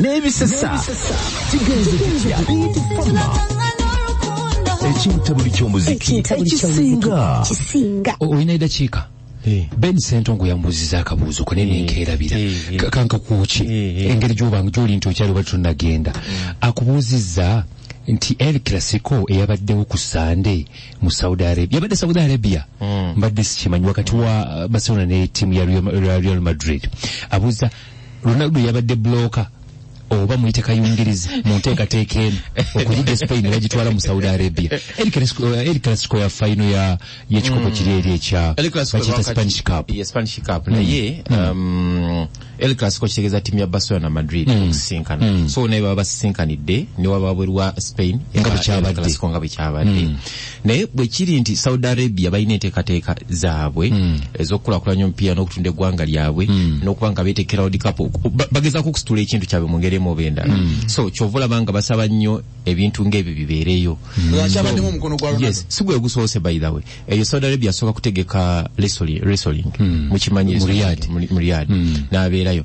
n'ebisesa kigenze kitya bitufama ekintabuli ky'omuziki ekisinga olina edakiika Eh. ben sentongo yamubuziza akabuuzo kone eh. nenkeerabira eh, kanka kuki engeri gyobanga gyoli nti okyali oba tonagenda mm. akubuuzizza nti el classico eyabaddewo ku sande mu saudi arabia yabadde saudi arabia mm. mbadde sikimanyi wakati wa barcelona ne tiimu ya real madrid abuuza Ronaldo yabadde bloka oba muyite kayungirizi mu nteekateeka eno okuyigga Spain ne bagitwala mu Saudi Arabia. El Clasico, eh, El Clasico ya faino ya y'ekikopo kiri eri ekya El Clasico bakiyita lwakati- Spanish Cup. Ye Spanish Cup naye um, El Clasico kitegeeza timu ya Barcelona na Madrid okusisinkana so naye baba basisinkanidde ne waba wabweru wa Spain Nga bwe El kyabadde. Clasico nga bwe kyabadde naye bwe kiri nti Saudi Arabia balina enteekateeka zaabwe mm. ez'okukulakulanya omupiira n'okutunda eggwanga lyabwe mm. n'okuba nga beeteekera World Cup bagezaako okusitula ekintu kyabwe mu ngeri emu oba endala mm. so kyova olaba nga basaba nnyo ebintu ng'ebyo bibeereyo mm. si gwe gusoose by the way eyo Saudi Arabia asooka kutegeka wrestling mm. mukimanyi mu Riyadh mm. n'abeerayo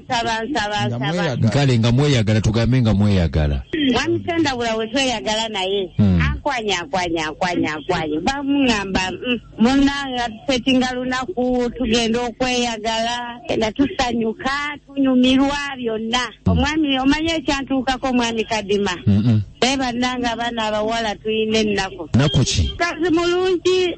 nsaba nsaba Nga nsaba mweyagala. kale nga mweyagala tugambe nga mweyagala mwami sendabula we tweyagala naye Hmm. ankwanya ankwanya ankwanya ankwanya bamuŋamba mm, munange atusetinga lunaku tugenda okweyagala enda tusanyuka tunyumirwa byonna omwami omanyi ekyantuukako omwami kadima Mm-mm. naye bannange abaana abawala tulina ennaku naku ki mukazi mulungi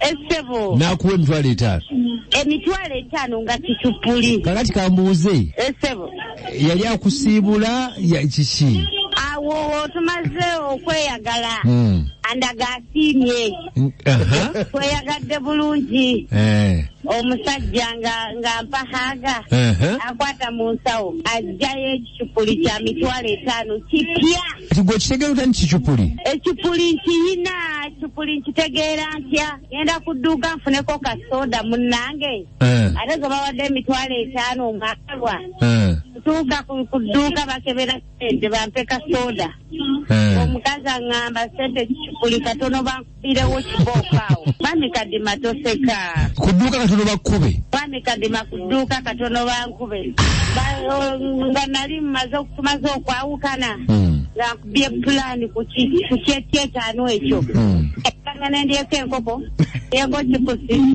Esebo. Nakuwa emitwalo etaano. Emitwalo etaano nga kitupuli. Kakati kambuuze. Esebo. Yali akusiibula ya kiki? Awo tumaze okweyagala. Hmm. Andaga asiimye. Tweyagadde bulungi. Eh. Omusajja nga nga mpahaga. Akwata mu nsawo. Ajjayo ekicupuli kya mitwalo etaano kipya. kati gwe okitegera otya nti kicupuli ekipuli nkiyina ekipuli nkitegeera ntya genda ku dduuka nfuneko ka soda munnange Eh, ate ze bawadde emitwalo etaano omwakalwa eh, tuuka ku ku dduuka bakebera sente bampe ka soda eh. omukazi aŋŋamba sente ekicupuli katono banku Birewo kibooko awo. Mwami Kadima toseka. Ku dduuka katono bakkube. Mwami Kadima ku dduuka katono bankube. Ba- Nga nali mmaze okumaze okwawukana. Mm. Nga nkubye pulaani ku ki- ku kyekyetaano ekyo. Mm. Ekanga nendyeko enkoko. Yego kipusi.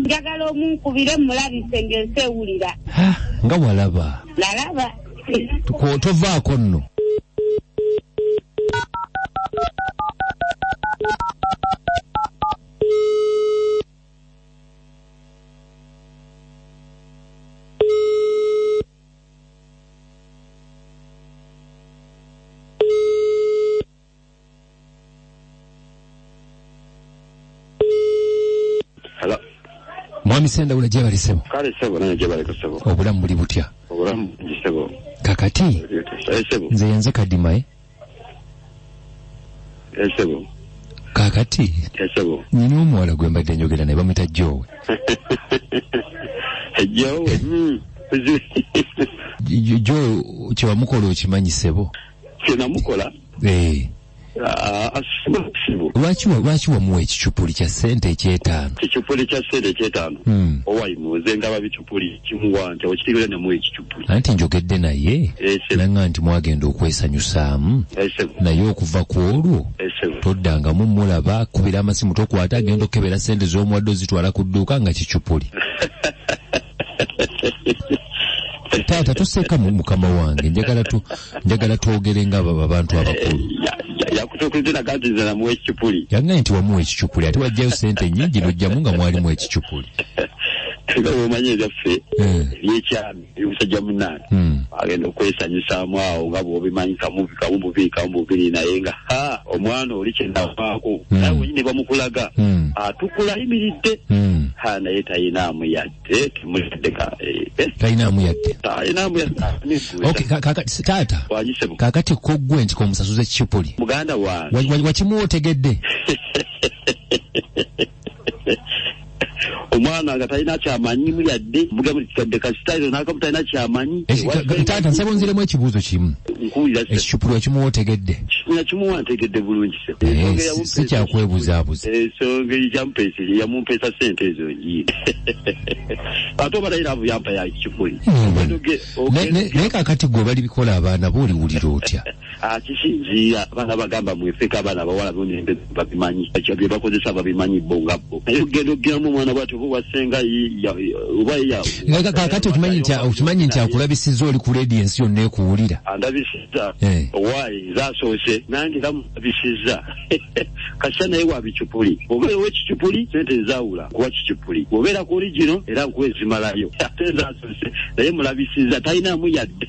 njagala omunkubire mulabise ng'ensi ewulira nga walaba nalaba tovaako nno mwami sendawula gyebali sebo kale sebo naye gyebali ku sebo obulamu buli butya obulamu bungi sebo kakati eh, sebo nze yenze kadima e eh, sebo kakati eh, sebo nyina omuwala gwe mbadde njogera naye bamuyita jowe jowe hmm. jowe kyewamukola okimanyi sebo kyenamukola eh. ah, asima busibu lwaki wa- lwaki wamuwa ekicupuli kya sente ekyetaano kicupuli kya sente ekyetaano Hmm. owayi muze ndaba bicupuli kimuwa nti okitegera namu ekicupuli anti njogedde naye Ese. nanga nti mwagenda okwesanyusaamu esebo naye okuva ku olwo esebo toddangamu mulaba kubira amasimu tokwata agenda okukebera sente z'omuwadde ozitwala ku dduuka nga kicupuli taata toseka mu mukama wange njagala tu njagala twogere nga aba- abantu abakulu yakutukuzira kati nze namuwa ekicupuli yangaye nti wamuwa ekicupuli ate wajjayo sente nyingi nojjamu nga mwalimu ekicupuli nga bwomanyi ebyaffe Eh. ebyekyami eby'omusajja munange Hmm. agenda okwesanyusaamu awo nga bwobimanyi kamuvi kamu bubiri kamu bubiri naye nga ha omwana oli kyenavaako hmm. naye wenyi ne bamukulaga hmm. atukula ayimiridde ha naye talinaamu yadde temuddeka eh. talinaamu yadde talinaamu yaddeoktaata kakati kogwe nti komusasuza kipuli muganda wange wakimwotegedde omwana nga talina kyamanyimu yadde mugambikadde kasitairo nakamu talina kyamanyi taata nsaba onziremu ekibuuzo kimu ekicupulu ekimuwa otegedde kicupulu ekimuwa ntegedde bulungi si kyakwebuzaabuza ensonga yamupeesa yamumpeesa sente ezo njiye ate oba naye laavu yampa ya kicupuli naye kakati gwe bali bikola abaana booliwulira otya Ah, kisinziira abaana bagamba mwefeka abaana abawala nonembe babimanyi ekyo byebakozesa babimanyi bo nga bo naye ogenda okugiramu omwana bwati oba owasenga oba kakati okimanyi nti okimanyi nti akulabisiza oli ku leedi ensi yonna ekuwulira andabisiza eh. owaayi nze asoose nange era mulabisiza kasita naye wa bicupuli obeera owekicupuli sente nzawula kuwa kicupuli obeera ku oli gino era nkuwa ezimalayo ate nze asoose naye mulabisiza talinaamu yadde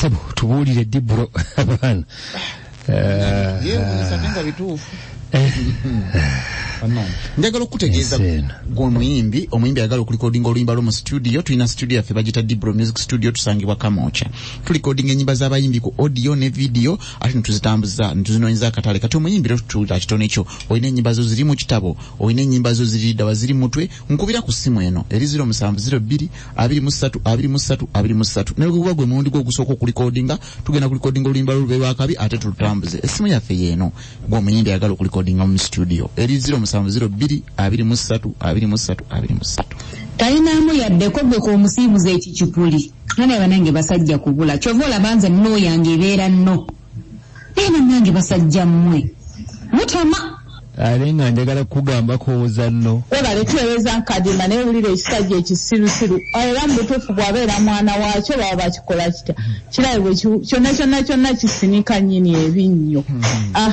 sebo tubuulire ddi bro abaana njagala okukutegeeza gweomuyimbi omuyimbi ayagala okulikodinga oluyimba lwo mu studio tulina studio yaffe bagita dibro music studio tusangibwa kamooca tulikodinga enyimba z'abayimbi ku audio ne video ate netuzitambuza netuzinonyeza akatale kati omuyimbi rero tutuulira kitono ekyo olina enyimba zo ziri mu kitabo olina enyimba zo ziri ddawa ziri mutwe nkubira ku ssimu eno eri 0702232323 naye guba gwe mulundi gwe ogusooka okulikodinga tugenda kulikodinga oluyimba lulube lwakabi ate tulutambuze essimu yaffe yeeno gwomuyimbi ayagala okulikodinga mu situdiyo eri 0702232323 talinaamu yaddeko gwe kwomusiibuza ekicupuli nanaye banange basajja kubula kyova olabanze munooyange ebeera nno Naye bannange basajja mmwe mutama. Ate nga njagala kukugamba kooza no. Webale tuwereza Kadima naye wulira ekisajja ekisirusiru era mubutuufu bwabeera mwana waakyo baba bakikola kitya? Kirabe bwe kyonna kyonna kyonna kisinika nnyini ebinnyo. Hmm. Ah.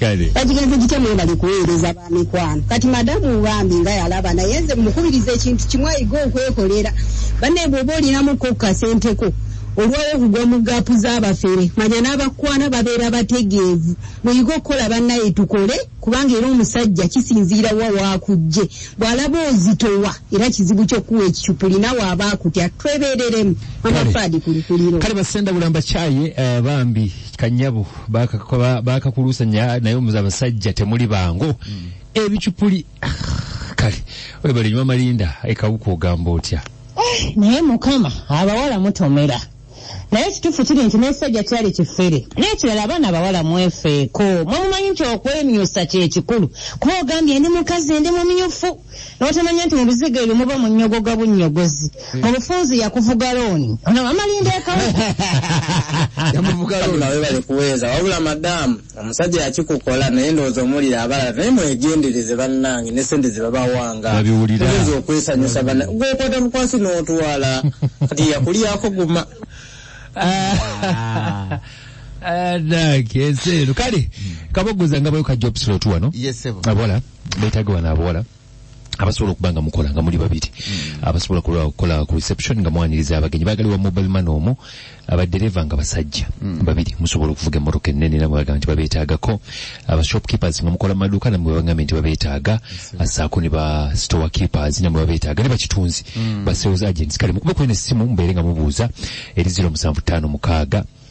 kale bagigenze gitya mwebali kuweereza ba mikwano kati madamu bambi nga yalaba naye nze mukubiriza ekintu kimu ayiga okwekolera banne bwoba olinamuko kukasenteko olwawo okugwa mu gaapu z'abafere manya n'abakwana babeera bategeevu muyige okukola bannaye tukole kubanga era omusajja kisinziira wa waakujje bw'alaba ozitowa era kizibu ky'okuwa ekicupuli nawe aba akutya twebeereremu amafaadi kulikuliro kale basenda bulamba kyaye eh, bambi kanyabu bakakuluusanya naye omuze abasajja temuli bangu mm. ebicupuli ah, kale webale nyuma malinda ekawuka ogamba otya eh, naye mukama abawala mutomera naye ekituufu kiri nti n'ekisajja kyali kifere n'ekirala abaana abawala mwefeeko mwemumanyi nti okwemyusa kyekikulu kuba ogambye ndi mukazi ndi mumyufu notamanya nti mubizigo ebyo muba munyogoga bunyogozi hmm. mubufunzi yakuvuga looni ono amalinda ekawebale kuweeza wabula madamu omusajja yakikukola naye ndowooza omuwulira abalala naye mwegendereze bannange ne sente zebabawanga oyinza okwesanyusa bana gwekwata mukwasi n'otwala kati yakulyako guma ah. ah, nange ensi eno kale hmm. kabogoza nga bayo kajja opisira otuwano abola beetaga bano abawala abasobola okuba nga mukola nga muli babiri hmm. abasobola okukola ku reception nga mwaniriza abagenyi bagali wa mobile man omu abadereva nga basajja hmm. babiri musobola okuvuga emmotoka ennene namwe bagamba nti babeetaagako abashopkeepers nga mukola maduuka namwe bagambye nti babeetaaga asaako ne ba store keepers namwe babeetaaga ne bakitunzi hmm. ba sales agents kale mukube kwena essimu mubeere nga mubuuza eri ziro musanvu ttaano mukaaga